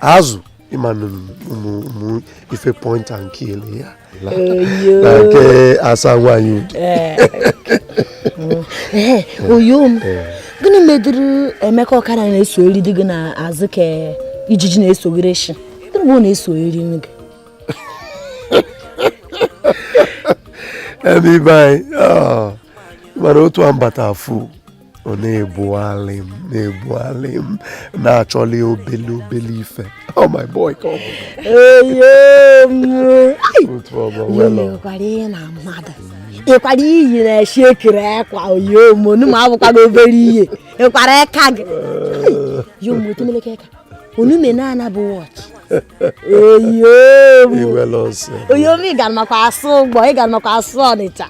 azụ ịma na ụmụ ụmụ ife point and kill ya na nke asa nwaanyị udi ee oyo m gịnị medịrị Emeka ọkara na-esogheri di gị n'azụ ka ijiji na-esogheri nshị gịnị bụ ọ na-esogheri gị ebe ibe anyị ah, mana otu a m bata afụ ọ na-ebugharị m na-ebugharị m na-achọli obele obele ife oh my boy ka ọ bụkwara ihe na mmadụ ịkwara iyi na-eshi ekere akwa oyo m onu ma abụkwara obere ihe ịkwara aka gị yomotemeleke ka onume na-ana bụ watch oyo m ị gara maka asụ Igbo ị gara maka asụ Ọnịcha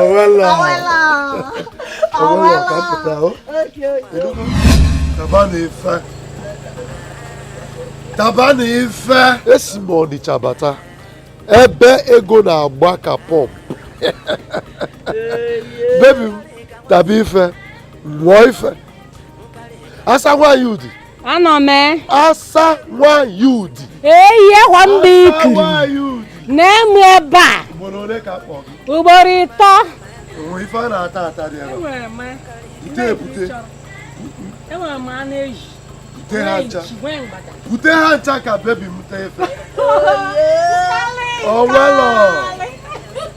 ọwela ọwela ọwela ka pụta o tabanụ ife tabanụ ife esi m Ọnịcha bata ebe ego na-agba ka pump baby m taba ife ṅụọ ife asa nwaanyị udi anọ m e. asa nwanyị udi eyi ekwa mba ikiri na-emu ebe a ugboro ịtọ ife a na-ata ata dị ebe bute ebute bute ha ncha bute ha ncha ka baby m taa ife o nwelọ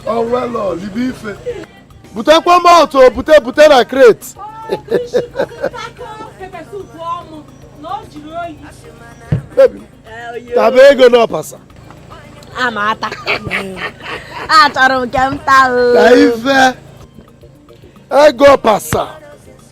o nwelọ libe ife butekwa malt bute bute na crate taba ego n'ọpasa amata achọrọ m nke m taa ife ego pasa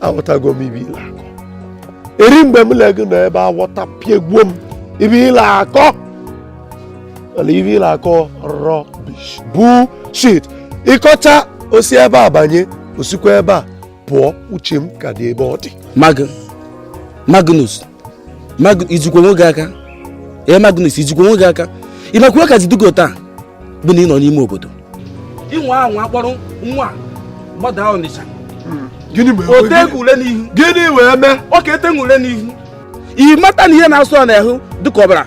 aghọtago m ife ị la-akọ eri mgbe mụ le gị nọ ebe aghọtapiegwo m ife ị la-akọ mana ife ị la-akọ rubbish bullshit ị kọchaa o si ebe a banye o sikwa ebe a pụọ uche m ka dị ebe ọ dị Mag Magnus i jikwa onwe gị aka ee Magnus i jikwa onwe gị aka ị makwa ka ị ji dugo taa bụ na ị nọ n'ime obodo inwe anwa akpọrọ nwa gbada Ọnịcha o tee gị ule n'ihu gịnị wee mee ọ ka etenwu ule n'ihu ị mata na ihe na-asụ ọ n'ahụ dịka ọbara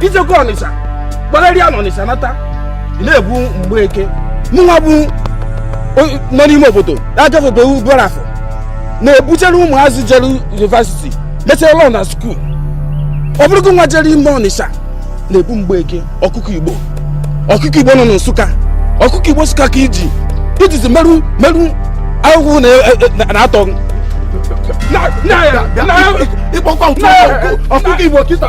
i jego ọnịsha gbagharịa na ọnịsha nata ị na-ebu mgbeke mụnwa bụ o- nọ n'ime obodo agafebe obolo afọ na-ebuchere ụmụazị jere yunivasiti mechere lọ na skuul ọ bụrụ gịnwa jere ime ọnịsha na-ebu mgbeke ọkụkọ igbo ọkụkọ igbo nọ na nsụka ọkụkọ igbo nsụka ka iji ijizi merụ merụ ahụhụ na- e- na- na-atọ gị. Na- na- na- ịkpọkwa na- ọkụkọ igbo kịta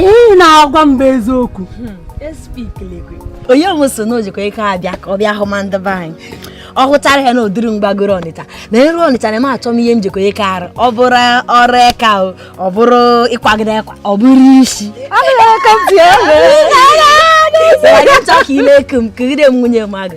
ihe ị na-agwa m bụ eziokwu hmm, onye m so na ojikọ ike abịa ka ọ bịa hụ ma ndị be anyị ọ hụchara ya na odiri m gbagoro ọnịcha na eru ọnịcha na m achọ m ihe m jikọ ike arụ ọ bụrụ ọrụ eka ọ bụrụ ịkwagide akwa ọ bụrụ isi chọọ ka ile eke m kegide m nwunye mmadụ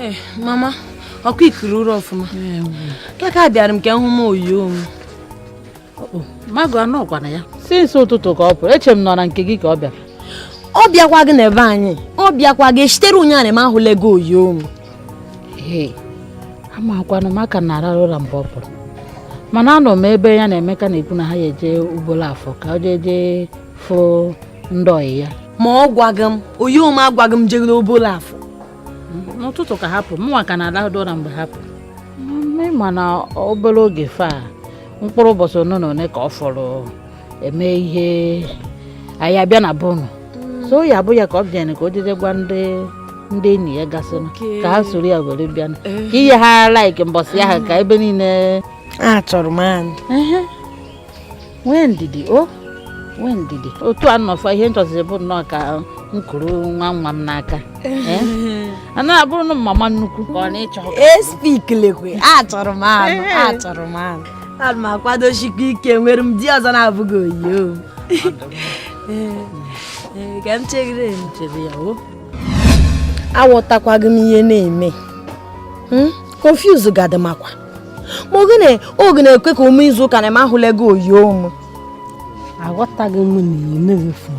Ee, mama ọkwa i kuru ụra ọfụma kaka bịara m ka m hụma oyo m magụ anọkwanụ ya since ụtụtụ ka ọ pụrụ eche m n'ọ na nke gị ka ọ bịara ọ bịakwaghị n'ebe anyị ọ bịakwaghị shitere ụnyaahụ m ahụlaghị oyo m amakwanụ m ka na-arara ụra mgbe ọ pụrụ mana anọ m ebe ya na Emeka na-ekwu na ha ya eje obolo afọ ka ọ jee jee fụ ndị ọyị ya ma ọ gwaghị m oyo m agwaghị m jegoro obolo afọ n'ụtụtụ ka ha pụ mụnwa ka na-alahụdo ụra mgbe ha pụ mana obere oge faa mkpụrụ ụbọchị one na one ka ọ fọrọ eme ihe anyị abịa na bụnụ so ya bụ ya ka ọ bịa ka o jeje gwa ndị ndị enyi ya gasịnụ ka ha soro ya were bịa ka eh. ihe ha like mbọsị ya ha ka ebe niile achọrọ m anụ nwee ndidi o oh. nwee ndidi otu a nọfa ihe m chọziri bụ nnọọ ka m kuru nwa nwa m n'aka a na-abụrụ na mama nnukwu ka ọ na-achọ espikilekwe achọrọ m anụ achọrọ m anụ ana m akwadochikwa ike nwere m di ọzọ na-abụghị oyo ka m chegide chere ya o aghọtakwaghị m ihe na-eme confuse hmm? gadị makwa ma ogene oge na-ekwe ka ọ me izu ụka na m ahụlaghị oyo m aghọtaghị m na ị na-efu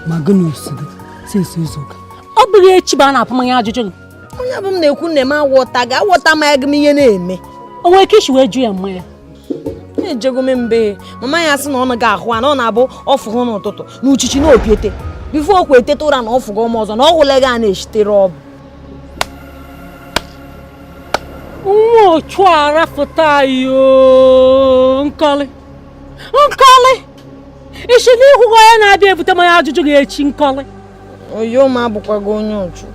ma gị na ọ sị gị since izu ụka ọ bụghị echi bụ a na-apụ m ajụjụ gị onye bụ m na-ekwu nne m awọtaghị awọtamaghị m ihe na-eme o nwere ike isi wee jụ ya mana ejego m be mama ya sị na ọ naghị ahụ a na ọ na-abụ ọ fụ n'ụtụtụ na uchichi na opiete before okwu eteta ụra na ọ fụgo ọzọ na ọ hụlaghị a na shitere ọbụ nwa ochu arafụta yo nkọlị nkọlị ị si n'ị hụghị onye na-abịa ebute mmanya ajụjụ gị echi Nkọlị oyo m abụkwago onye ụchụ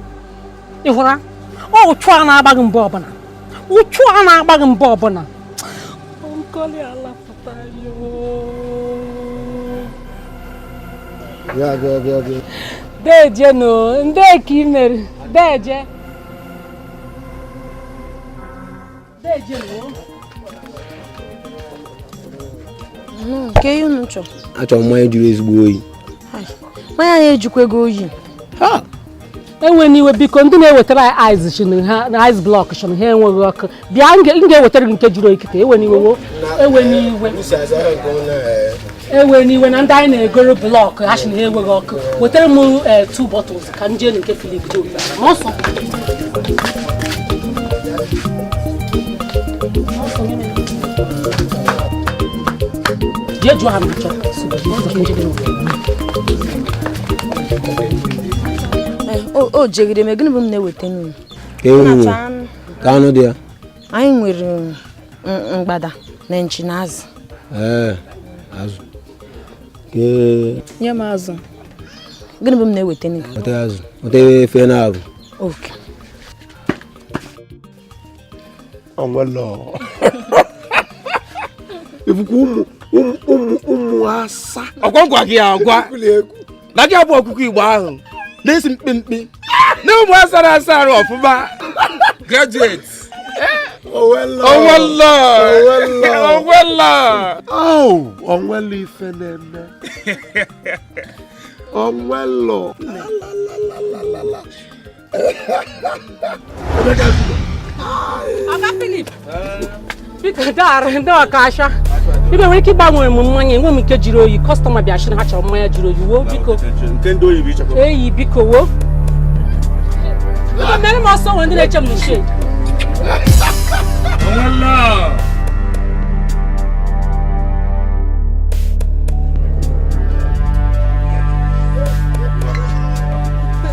ị hụra ụchụ a na-agba gị mgbe ọbụla ụchụ a na-agba gị mgbe ọbụla Nkọlị alapụta deje nọ ndị ka ị mere deje achọrọ mmanya jụrụ ezigbo oyi mmanya a ejikwaghị oyi ewena iwe biko ndị na-ewetara anyị ice shị na ha na ice block shị na ha enweghị ọkụ bịa m ga-ewetara gị nke jụrụ oyi kịta ewena iwe ewena iwe ewena iwe na ndị anyị na-egoro blọkụ ha si na ha enweghị ọkụ wetara m eh, two bottles ka m jee nke Philip Joe ma ọsọ jee jụọ ha ma chọọ o jegide m gịnị bụ m na-eweta nnu ewu ka anụ dị ya anyị nwere mgbada na nchi na azụ ee azụ nye m azụ gịnị bụ m na-eweta weta azụ weta ife na abụ oke onwelọ ọ bụkwa ụmụ asa ọ kwa a gwa gị agwa na gị abụ ọkụkọ Igbo ahụ na-esi mkpimkpi na ụmụ asara asa arụ ọfụma graduate onwelọ onwelọ onwelọ ife na-eme onwelọ Ọga Philip, biko daara ndị ọkasha ibe nwere ike ịgbanwere m mmanya nye m nke jiri oyi kọstọma bịa shị na ha chọrọ mmanya jiri oyi woo biko eyi biko woo biko mere m ọsọ nwere ndị na-eche m na shed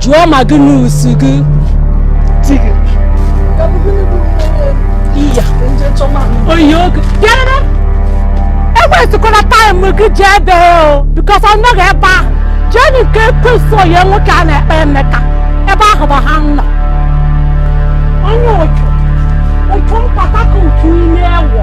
jụọ Magnus gị di gị iya oyi oge bịarara ewestikwala taịm gị jee ebe o bikos ọ nọghị ebe ahụ jee nụ nke ekwesị onye nwoke a na-akpọ Emeka ebe ahụ bụ ha nọ onye otu otu nkata ka otu ime ewo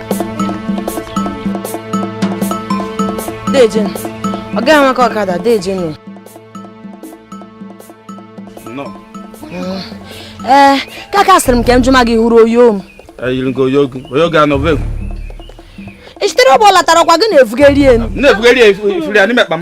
Dejen, ọ gaghị amaka ọkada Dejen nụ. Ee, kaka sịrị m ka m jụọ ma gị hụrụ oyo m. Eyiri gị oyo gị, oyo gị anọ vegwu. Ị sitere ụgbọ latara ọkwa gị na-efugharị elu. Na-efugharị efugharị n'ime akpa m.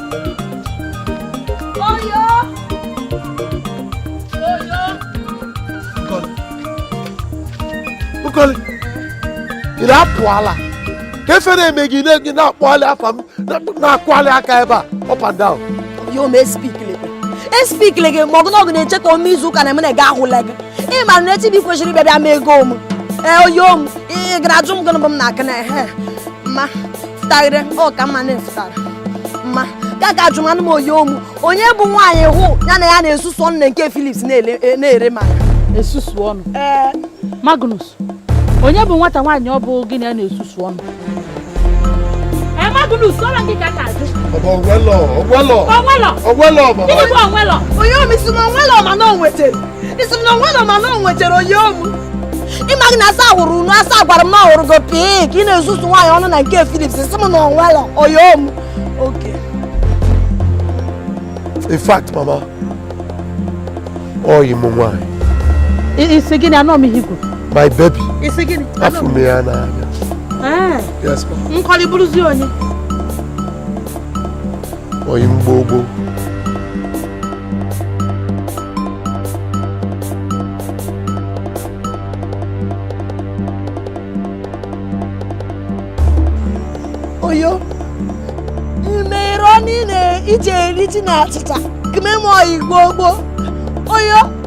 Nkoli, ị na-apụ ala ka ife na-eme gị na-enye na-akpọali afa m na-akwali aka ebe a up and down. Yo, me speak lebe. E speak lege ma ọgụ na ọgụ na-eche ka o mee izu ụka na eme na ga ahụla gị. Ị mara na echi bụ kwesịrị ịbịa bịa ma ego m. Ee, oyo m, ị gara ajụ m gịnị bụ m na-akụ na ehe. Ma, taghere ọ ka mma na-efutara mma ka ka ajụ manụ m oyo m onye bụ nwaanyị ahụ gị na ya na-esusu ọnụ na nke Philips na-ele- e- na-ere ma esusu ọnụ ee magnus onye bụ nwata nwaanyị ahụ gị na ya na-esusu ọnụ ee magnus ọla gị ka ka ajụ Baba Ogwelo, Ogwelo, o nwelọ Ogwelo, Baba. gịnị bụ o nwelọ oyo m ị sị na o nwelọ mana o nwetere ị sị m na o nwelọ mana o nwechara oyo m ị maghị na asa hụrụ unu asa gwara m na ọ hụrụ gị pii ka ị na-esusu nwaanyị ọnụ na nke Philips ị sị m na o nwelọ oyo m okay in fact mama oyi m nwaanyị ị sị gịnị anụ m ihe i kwu my baby ị sị gịnị afụ m ya n'anya nkọli bụrụzi onye oyi mgbogbo oyo mmeri niile ije eri ji na achịcha kememe oyi gbogbo oyo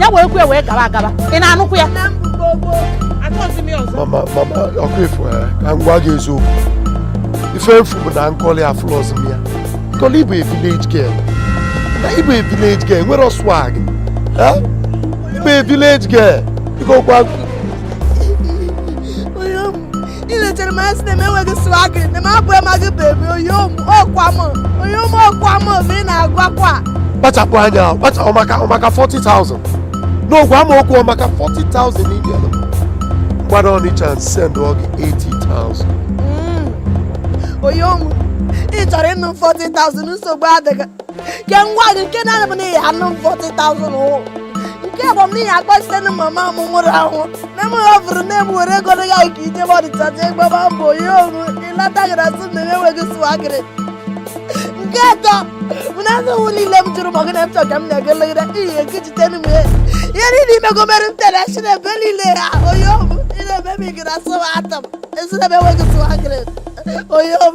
ya wee kwe wee gaba agaba ị na-anụkwu ya mama mama okwu efu eh, ka m gwa gị eziokwu ife m fụ bụ na nkọli afụlọzi m ya nkọli ị bụ a village girl na ị bụ a village girl nwere swag eh? ị bụ a village girl ịgokwa i lechere m anya sị na m enweghị swag na m abụ emaghị bebi oyo m ọkwa m oyo m ọkwa m ma ị na-agwakwa kpachapụ anya ahụ kpacha ọ maka ọ maka 40,000 n'ị gwa m okwu ọ maka 40,000 n'ị bịalụ m gbada ọnịcha send ọ gị 80,000 oyo m ị chọrọ ịnụ m 40,000 nsogbu adịghị ke ngwa gị nke na-anụ bụ na ị ya-anụ m 40,000 ụwụ nke bụ m na ị ya akpọsite na mama m nwụrụ anwụ nne m hafụrụ nne m were ego ya nke ijebe Ọnịcha jee gbaba mbọ oyo m ịlata gara sị na enweghị swagger nke atọ bụ na nsogbu niile m jụrụ ma gị na m chọ ka m na-elegide iyi nke jite m ihe ihe niile imego mere m tere si na ebe niile ha oyo m ị na-eme m igere asụ atọ m esi na ebe enweghị swagger oyo m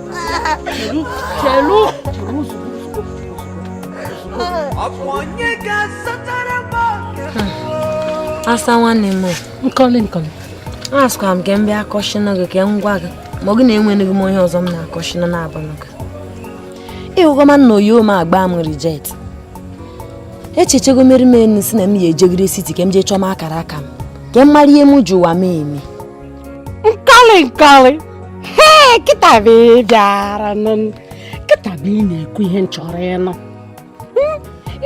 asa nwanne m nkọli nkọli asịkwa m ka m bịa kọshịnụ gị ka m gwa gị ma ọ gị na enweghị m onye ọzọ m na-akọshịnụ na-abụghị gị ịhụgọma na oyo m agba m reject echechego mere m enu si na m ya ejegide city ka m jee chọma akara aka m ka m mara ihe m ji ụwa m eme nkọli nkọli he kịta bụ ị bịara nụ m. kịta bụ ị na-ekwu ihe m chọrọ ịnụ Hmm,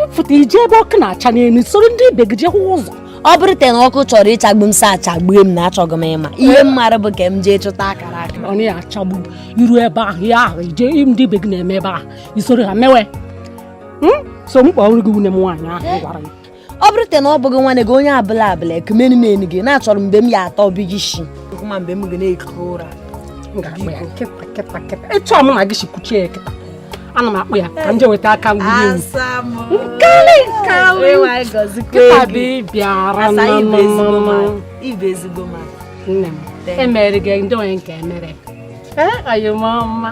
ịfụta ije ebe ọkụ na-acha n'elu soro ndị ibe gị jee hụ ụzọ ọ bụrụ te na ọkụ chọrọ ịchagbu m sa chagbue m na achọghị m ịma ihe m mara bụ ka m jee chụta akara aka ọ na ya achagbu iru ebe ahụ ya ahụ ihe ndị ibe gị na-eme ebe ahụ i soro ha mewe Hmm? so m kpọrọ gị nwunye m nwaanyị ahụ m gwara gị ọ bụrụ te na ọ bụghị nwanne gị onye abụla abụla ekumenu m enu gị na-achọrọ mgbe m ya atọ bi gị shi ma mgbe m ga na-ekute ụra ịchọ m na gị si kuchie ya kịta ana m akpụ ya ka m je weta aka ngwuri ewu nkọli nkọli kịta bụ ị bịara nne m emere gị ndị onye nke emere ee oyo m ọma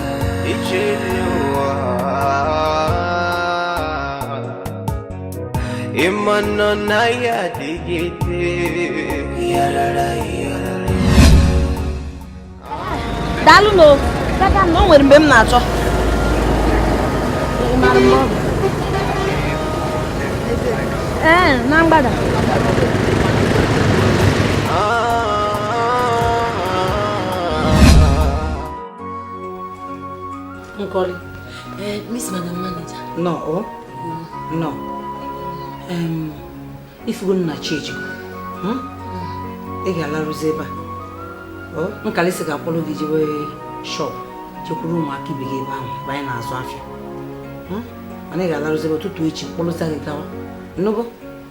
ịmanọ na ya adịgide yarara yarara daalụ na dada na o nwere mgbe m na-achọ ee na mgbada Nkoli, eh, Miss Madam Manager. No, oh. Mm. No. Um, ị fụgo na chi ejie, hmm? Ị ga-alarụzi ebe a. Oh, Nkoli sị ga-akpọrọ gị jewe shop jekwuru ụmụaka ibe gị ebe ahụ ebe anyị na-azụ afịa. Hmm? Mana ị ga-alarụzi ebe a ụtụtụ echi kpọrọta gị gawa. Ị nụgo?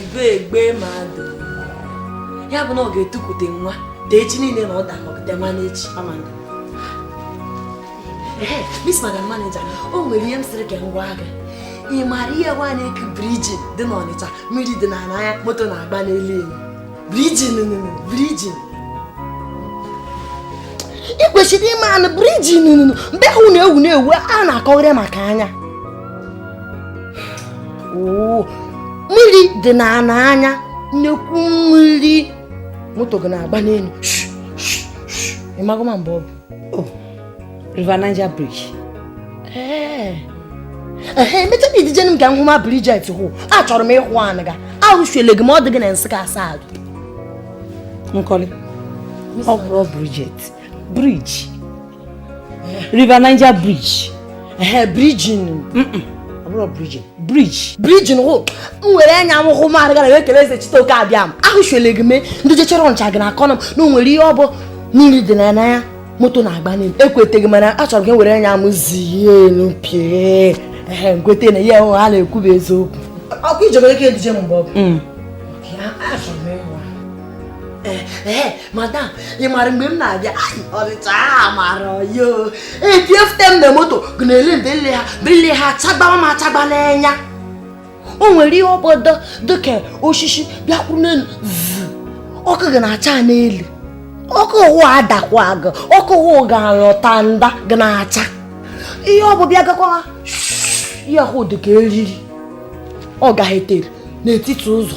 ibe egbe mmadụ ya bụ na ọ ga-etukwute nwa dee echi niile na ọ dakọpụta nwa n'echi Miss Madam Manager o nwere ihe m sịrị ka m gwa gị ị maara ihe wa na-eku bridge dị n'Ọnịcha mmiri dị n'ala ya moto na-agba n'elu enyi Brijin, Brijin. Ị kwesịrị ịmanụ Brijin mgbe ahụ na-ewu na-ewu a na-akọgharị maka nya. Oo, mmiri dị n'ana nya nnekwu mmiri moto ga na-agba n'elu. Ị mago ma mgbe ọ bụ? Oh, River Niger Bridge. Ee. Ee, emecha m i duje m ka m hụ ma Bridget hụ. Achọrọ m ịhụ anụ ga. Ahụsụele gị ma ọ dị gị na nsị ka asaa gị. Nkọli. Ọ bụrọ Bridget. Bridge. River Niger Bridge. ehe brijin abụrọ brijin brij brijin hụ m were anya m hụ maara gara wee kele Ezechitoke Abịama ahụchule gị mee ndị jechere Ọnịcha ga na-akọrọ m na o nwere ihe ọ bụ mmiri dị n'ana nya moto na-agba n'elu ekweteghị mana achọrọ m were anya m zie elu pịa ehe m kwete na ihe ahụ ha na-ekwu bụ eziokwu ọkwa i je-enwe ike eduje m mgbe ọ bụ mm. achọrọ m ịhụ ee eh, eh, madam ị mara mgbe m na-abịa Ọnịcha a mara yo etiefute m na moto ga na-ele mbele ha bele ha achagbawa m achagba n'anya o nwere ihe ọ bụ dịka osisi bịakwuru n'elu ọkụ ga na-acha n'elu ọkụ ahụ adakwa gị ọkụ ahụ ga-alọta nda ga na-acha ihe ọ bụ bịa gakwa ihe ahụ dịka eriri ọ gahetere n'etiti ụzọ